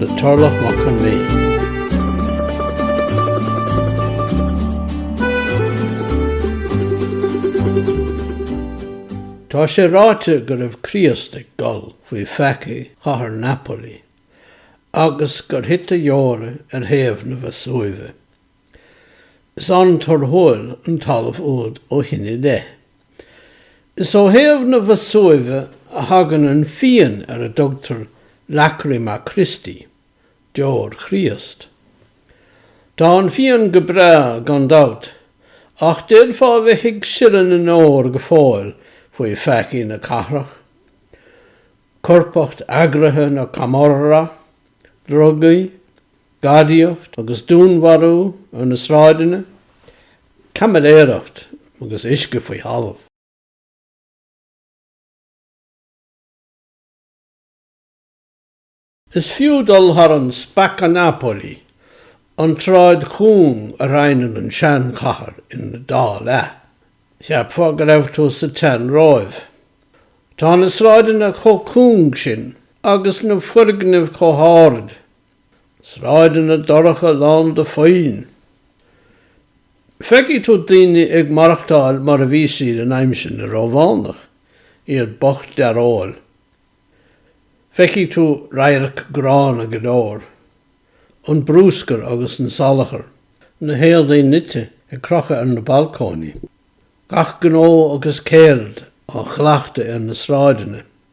le Tarlach Mac Con Midhe. Tá sé ráite go raibh Críost ag gol faoi pheacaí chathair Napoli agus gur thit a dheora ar thaobh na Veasúive. Is an-torthúil an talamh úd ó shin i leith. Is ó thaobh na Veasúive a thagann an fíon ar a dtugtar Lacrima Christi, Deor Chríost. Tá an fíon go breá, gan dabht, ach d'fhéadfá a bheith ag sileadh na ndeor go fóill faoi pheacaí na cathrach, coirpeacht eagraithe na Camorra, drugaí, Gadaíocht agus dúnmharú ar na sráideanna, caimiléireacht agus uisce faoi thalamh. Is fiú dul thar an Spacca Napoli, an tsráid chúng a roinneann an seanchathair ina dá leath. Cheapfá go raibh tú sa tsean-Róimh. Tá na sráideanna chomh cúng sin agus na foirgnimh chomh hard Sráideanna dorcha lán de phoill. Feicfidh tú daoine ag maireachtáil mar a bhí siad in aimsir na Rómhánach, iad bocht dearóil. Feicfidh tú radhairc gránna go leor, an brúscar agus an salachar, na héadaí nite ag crochadh ar na balcóiní, gach gnó agus ceird á chleachtadh ar na sráideanna.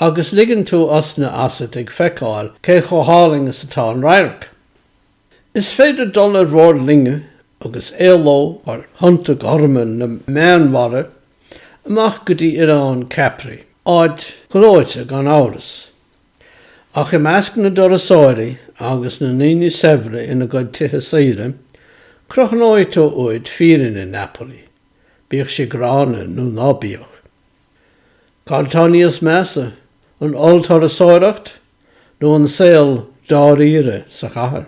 agus ligeann tú osna asat ag feiceáil cé chomh hálainn is atá an radharc. Is féidir dul ar bhord loinge agus éaló thar thonnta gorma na Meánmhara amach go dtí oileán Capri, áit ghleoite gan amhras, ach i measc na dturasóirí agus na ndaoine saibhre ina gcuid tithe saoire, crothnóidh tú uait fírinne Napoli, bíodh sí gránna nó ná bíodh. Cad tá níos measa, an ollturasóireacht nó an saol dáiríre sa chathair?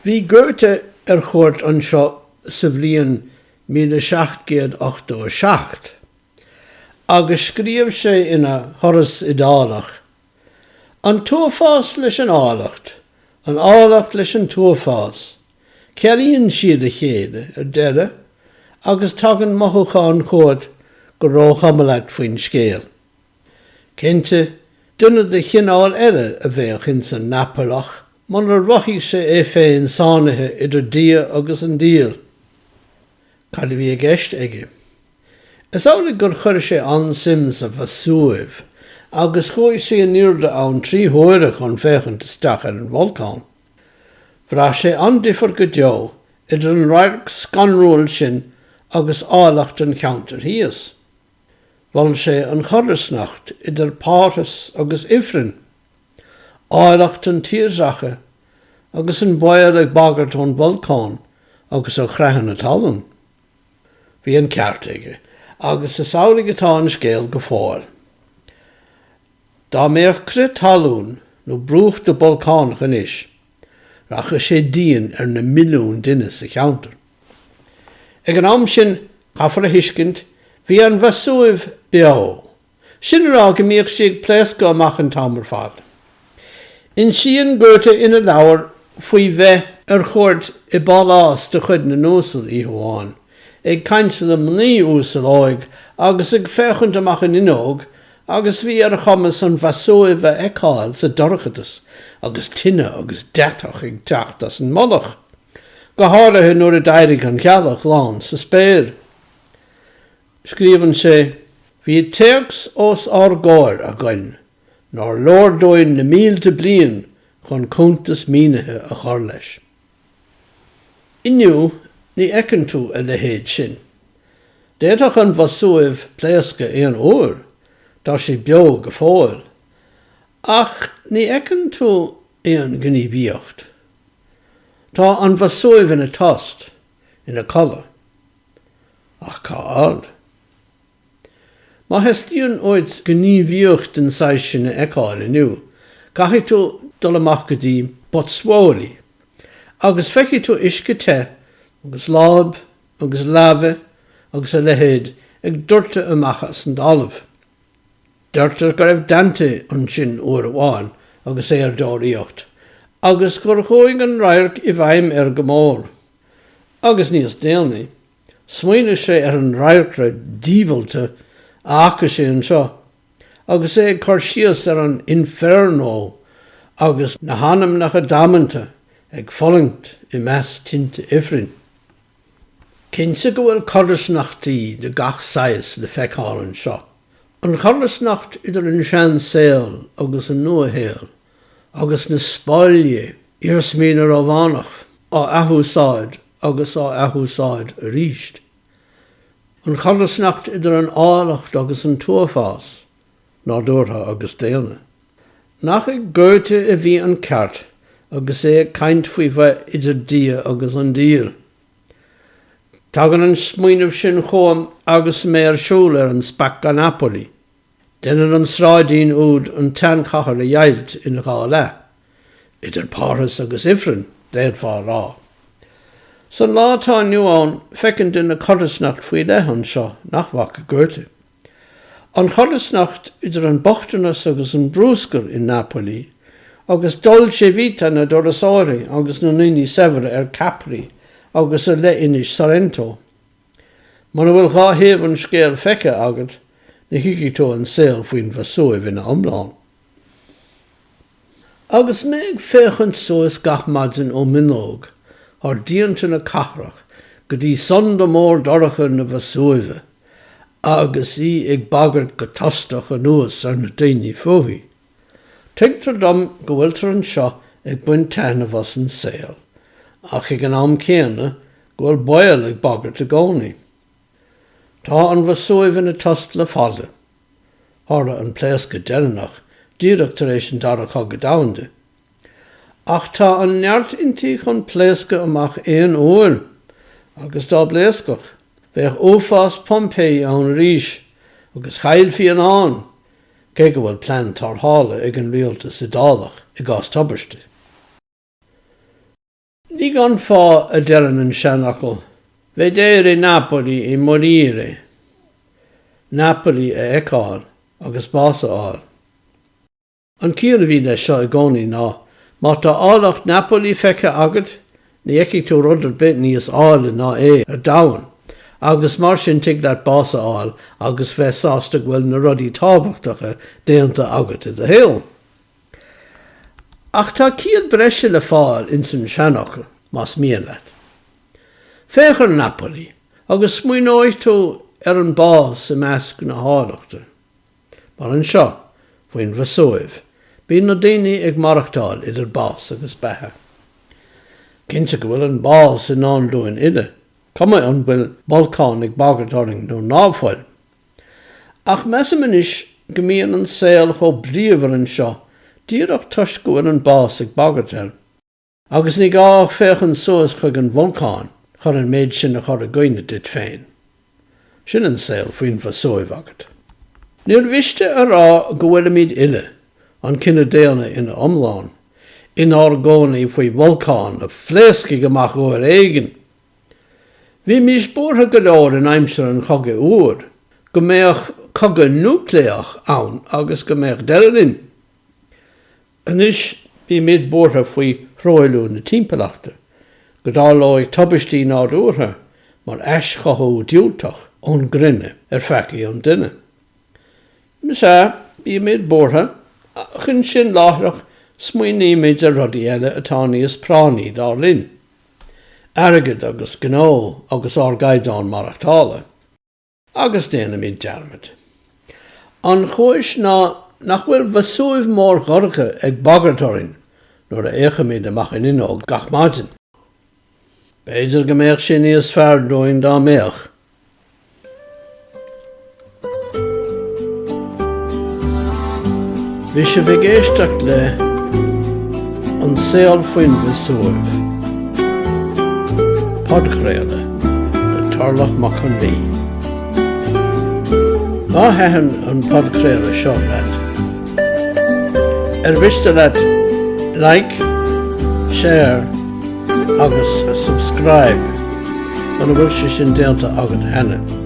Bhí Goethe ar chuairt anseo sa bhliain míle seacht gcéad ochtó a seacht agus scríobh sé ina Thuras Iodálach, An t-uafás leis an áilleacht, an áilleacht leis an t-uafás, Cealaíonn siad a chéile ar deireadh agus tagann mothúchán chugat gur róchuma leat faoin scéal. Cinnte, duine de chineál eile a bheadh ins an Napalach munar mhothaigh sé é féin sáinnithe idir Dia agus an Diabhal. Cad a bhí i gceist aige? Is amhlaidh gur chuir sé an-suim sa Veasúiv agus chuaigh sé in airde ann trí huaire chun féachaint isteach ar an bholcán. Bhraith sé an-difear go deo idir an radharc scanrúil sin agus áilleacht an cheantair thíos. Mhol sé an chodarsnacht idir Parthas agus Ifreann, áilleacht an tírdhreacha agus an baol ag bagairt ón bholcán agus ó chreathanna talún. Bhí an ceart aige, agus is amhlaidh atá an scéal go fóill. Dá mbeadh crith talún nó brúchtadh bolcánach anois, rachadh sé dian ar na milliúin duine sa cheantar. Ag an am sin, caithfear a thuiscint, bhí an Veasúiv beo, sin a rá go mbíodh sí ag pléascadh amach an t-am ar fad. Insíonn Goethe ina leabhar faoi bheith ar chuairt i bpálás de chuid na n-uasal oíche amháin, ag caint le mnaoi uasal óig agus ag féachaint amach an fhuinneog, Agus bhí ar a chumas an Veasúiv a fheiceáil sa dorchadas agus tine agus deatach ag teacht as an mullach, go háirithe nuair a d'éirigh an ghealach lán sa spéir. Scríobhann sé, Bhí téacs os ár gcomhair againn nár leor dúinn na mílte bliain chun cuntas mínithe a chur leis. Inniu, ní fheiceann tú a leithéid sin. D'fhéadfadh an Veasúiv pléascadh aon uair, tá sé beo go fóill, ach ní fheiceann tú aon ghníomhaíocht. Tá an Veasúiv ina tost, ina codladh. Ach cá fhad? Má theastaíonn uait gníomhaíocht den saghas sin a fheiceáil inniu, caithfidh tú dul amach go dtí Pozzuoli, agus feicfidh tú uisce te agus láb agus laibhe agus a leithéid ag doirteadh amach as an dtalamh. Deirtear go raibh Dante ansin uair amháin agus é ar deoraíocht, agus gur chuaigh an radharc i bhfeidhm air go mór. Agus níos déanaí, Smaoinigh sé ar an radharcra diabhalta a fhaca sé anseo agus é ag cur síos ar an Inferno agus na hanamnacha damanta ag fulaingt i measc tinte ifrinn. Cinnte go bhfuil codarsnachtaí de gach saghas le feiceáil anseo, an chodarsnacht idir an seansaol agus an nuashaol, agus na Spáinne, iarsmaí na Rómhánach á athúsáid agus á athúsáid aríst. An chodarsnacht idir an áilleacht agus an t-uafás, nádúrtha agus daonna. Nach ag Goethe a bhí an ceart agus é ag caint faoi bheith idir Dia agus an Diabhal? Tagann an smaoineamh sin chugam agus mé ar siúl ar an Spacca Napoli. Déanann an sráidín úd an tseanchathair a dheighilt ina dhá leath, idir parthas agus ifreann, d'fhéadfá a rá. San lá atá inniu ann, feiceann duine codarsnacht faoi leith anseo nach bhfaca Goethe. An chodarsnacht idir an bochtanas agus an brúscar i Napoli, agus dolce vita na dturasóirí agus na ndaoine saibhre ar Capri agus i leithinis Sorrento. Muna bhfuil dhá thaobh an scéil feicthe agat, ní thuigfidh tú an saol faoin Vesuiv ina iomlán. Agus mé ag féachaint suas gach maidin ó m'fhuinneog thar díonta na cathrach go dtí sonda mór dorcha na Vesuive, agus í ag bagairt go tostach anuas ar na daoine fúithi, Tuigtear dom go bhfuiltear anseo ag baint taitneamh as an saol, ach ag an am céanna go bhfuil baol ag bagairt i gcónaí. Tá an Vesuiv ina tost le fada. Tharla an pléascadh deireanach díreach tar éis an Dara Cogadh Domhanda. Ach tá an neart inti chun pléascadh amach aon uair, agus dá bpléascfadh, bheadh uafás Pompeii ann aríst, agus chaillfí a lán, cé go bhfuil plean tarrthála ag an rialtas Iodálach i gcás tubaiste. Ní gan fáth a deireann an seanfhocal, Vedere Napoli e morire! Napoli a fheiceáil agus bás a fháil. An ciall a bhí leis seo i gcónaí ná, má tá áilleacht Napoli feicthe agat, Ní fheicfidh tú rud ar bith níos áille ná é ar domhan, agus mar sin tig leat bás a fháil agus bheith sásta go bhfuil na rudaí tábhachtacha déanta agat i do shaol. Ach tá ciall breise le fáil ins an seanfhocal, más mian leat. Féach ar Napoli, agus smaoineoidh tú ar an bás i measc na háilleachta. Mar anseo, faoin Vesuiv, bíonn na daoine ag maireachtáil idir bás agus beatha. Cinnte go bhfuil an bás i ndán dúinn uile, cuma an bhfuil bolcán ag bagairt orainn nó ná fuil. Ach measaim anois go mbíonn an saol chomh bríomhar anseo díreach toisc go bhfuil an bás ag bagairt air. Agus ní gá ach féachaint suas chuig an bholcán chun an méid sin a chur i gcuimhne duit féin. Sin an saol faoin Veasúiv agat. Níor mhiste a rá go bhfuilimid uile, an cine daonna ina iomlán, inár gcónaí faoi bholcán a phléascfaidh amach uair éigin. Bhímís buartha go leor in aimsir an Chogaidh Fhuair go mbeadh cogadh núicléach ann agus go mbeadh deireadh linn. Anois bímid buartha faoi thruailliú na timpeallachta, go dtarlódh tubaistí nádúrtha mar aischothú diúltach ón gcruinne ar pheacaí an duine. Is ea, bímid buartha, ach ansin láithreach smaoinímid ar rudaí eile atá níos práinní, dar linn. Airgead agus gnó agus ár gcaighdeán maireachtála. Agus déanaimid dearmad. An chúis ná nach bhfuil Veasúiv mór dhorcha ag bagairt orainn nuair a fhéachaimid amach an fhuinneog gach maidin. B'fhéidir go mbeadh sé níos fearr dúinn dá mbeadh. Bhí sibh ag éisteacht le An Saol Faoin Veasúiv, podchraoladh le Tarlach Mac Con Mí. Má thaitin an podchraoladh seo leat, ar mhiste leat like, share agus subscribe muna bhfuil sé sin déanta agat cheana?